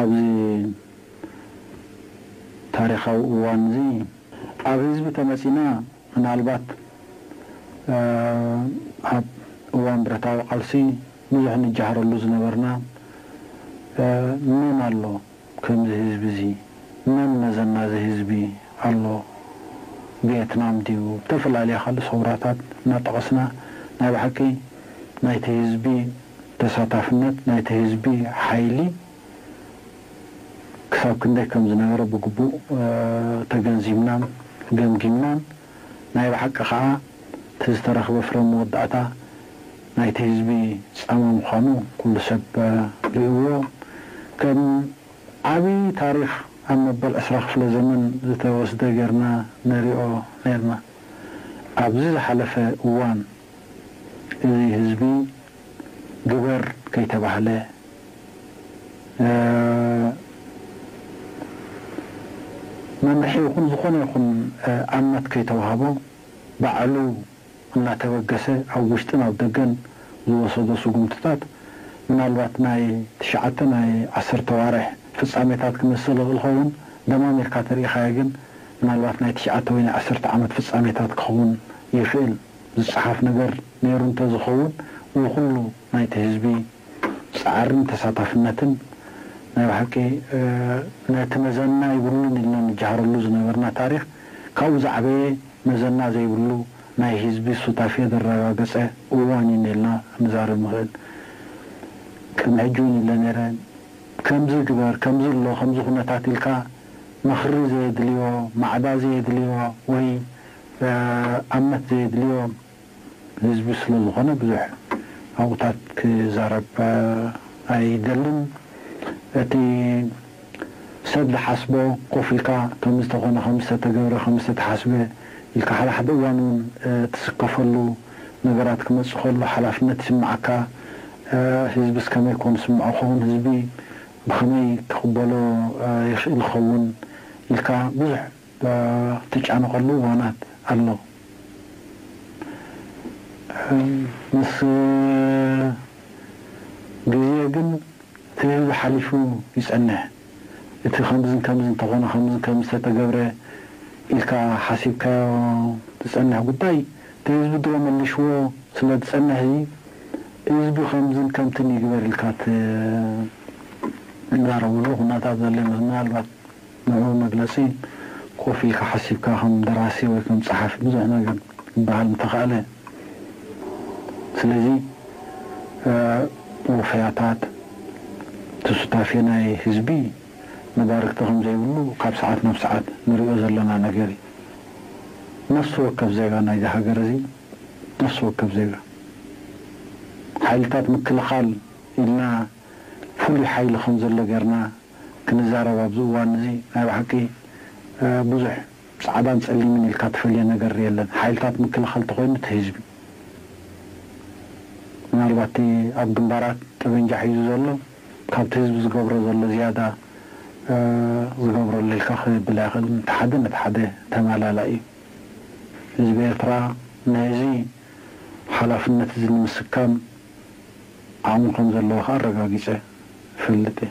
ኣብዚ ታሪኻዊ እዋንዚ ኣብ ህዝቢ ተመጺና ምናልባት ኣብ እዋን ብረታዊ ቃልሲ ብዙሕ ንጃሃረሉ ዝነበርና መን ኣሎ ከምዚ ህዝቢዚ መን መዘና እዚ ህዝቢ ኣሎ ቪየትናም ድዩ ብተፈላለየ ካልእ ሰውራታት እናጠቐስና ናይ ብሓቂ ናይቲ ህዝቢ ተሳታፍነት ናይቲ ህዝቢ ሓይሊ ክሳብ ክንደይ ከም ዝነበረ ብግቡእ ተገንዚብናን ገምጊምናን፣ ናይ ብሓቂ ከኣ እቲ ዝተረኽበ ፍረ መወዳእታ ናይቲ ህዝቢ ጻማ ምዃኑ ኩሉ ሰብ ርእዩዎ። ከም ዓቢ ታሪኽ ኣብ መበል ዕስራ ክፍለ ዘመን ዝተወስደ ገርና ንሪኦ ነርና። ኣብዚ ዝሓለፈ እዋን። እዚ ህዝቢ ግበር ከይተባህለ መምርሒ ይኹን ዝኾነ ይኹን ኣምት ከይተውሃቦ ባዕሉ እናተበገሰ ኣብ ውሽጥን ኣብ ደገን ዝወሰዶ ስጉምትታት ምናልባት ናይ ትሽዓተ ናይ ዓሰርተ ኣዋርሕ ፍጻሜታት ክመስል ይኽእል ይኸውን ደማሚርካ ተርኢኻዮ ግን ምናልባት ናይ ትሽዓተ ወይ ናይ ዓሰርተ ዓመት ፍጻሜታት ክኸውን ይኽእል። ዝጸሓፍ ነገር ነይሩ እንተዝኸውን ወይ ኩሉ ናይቲ ህዝቢ ጻዕርን ተሳታፍነትን ናይ ብሓቂ ነቲ መዘና ይብሉን ኢልና ንጀሃረሉ ዝነበርና ታሪኽ ካብኡ ዝዓበየ መዘና ዘይብሉ ናይ ህዝቢ ሱታፌ ዘረጋገጸ እዋን እዩ ኢልና ክንዛረብ ንኽእል ቅድሚ ሕጂ እውን ይብለ ነይረ ከምዚ ግበር ከምዚ ኣሎ ከምዚ ኩነታት ኢልካ ምኽሪ ዘየድልዮ ማዕዳ ዘየድልዮ ወይ ኣምነት ዘየድልዮ ህዝቢ ስለዝኾነ ብዙሕ ኣብኡታት ክዛረብ ኣይደልን። እቲ ሰብ ዝሓስቦ ኮፍ ኢልካ ከምዝተኾነ ከምዝተተገብረ ከምዝተተሓስበ ኢልካ ሓደ ሓደ እዋን እውን ትስከፈሉ ነገራት ክመፅእ ከሎ ሓላፍነት ይስመዓካ። ህዝብስ ከመይ ኮን ዝስምዖ ይኸውን? ህዝቢ ብኸመይ ክቕበሎ ይኽእል ይኸውን? ኢልካ ብዙሕ ትጫነቐሉ እዋናት ኣሎ ምስ ግዜ ግን እቲ ህዝቢ ሓሊፉ ይጸንሕ እቲ ከምዝን ከምዝን ተኾነ ከምዝን ከምዝን ተተገብረ ኢልካ ሓሲብካዮ ዝጸንሕ ጉዳይ እቲ ህዝቢ ድሮ መሊሽዎ ስለ ዝጸንሕ እዚ ህዝቢ ከምዝን ከምትን ይግበር ኢልካ ትዛረብሉ ኩነታት ዘሎ ይመስል ምናልባት ንዕኡ መግለጺ ኮፍ ኢልካ ሓሲብካ ከም ደራሲ ወይ ከም ጸሓፊ ብዙሕ ነገር ክበሃል ምተኻእለ። ስለዚ ወፈያታት እቲ ሱታፌ ናይ ህዝቢ መዳርግቲ ከም ዘይብሉ ካብ ሰዓት ናብ ሰዓት ንርእዮ ዘለና ነገር እዩ። ነፍሲ ወከፍ ዜጋ ናይዚ ሃገር እዚ ነፍሲ ወከፍ ዜጋ ሓይልታት ምክልኻል ኢልና ፍሉይ ሓይሊ ከም ዘሎ ጌርና ክንዛረብ ኣብዚ እዋን እዚ ናይ ብሓቂ ብዙሕ ጻዕዳን ጸሊምን ኢልካ ትፈልዮ ነገር የለን ሓይልታት ምክልኻል ተኾይኑ እቲ ህዝቢ ምናልባት እቲ ኣብ ግንባራት ጠበንጃ ሒዙ ዘሎ ካብቲ ህዝቢ ዝገብሮ ዘሎ ዝያዳ ዝገብሮ ኣሎ ኢልካ ክብል ኣይክእልን እቲ ሓደ ነቲ ሓደ ተማላላኢ እዩ ህዝቢ ኤርትራ ነዚ ሓላፍነት እዚ ንምስካም ዓቕሚ ከምዘለዎ ከኣ ኣረጋጊጸ እፈልጥ እየ።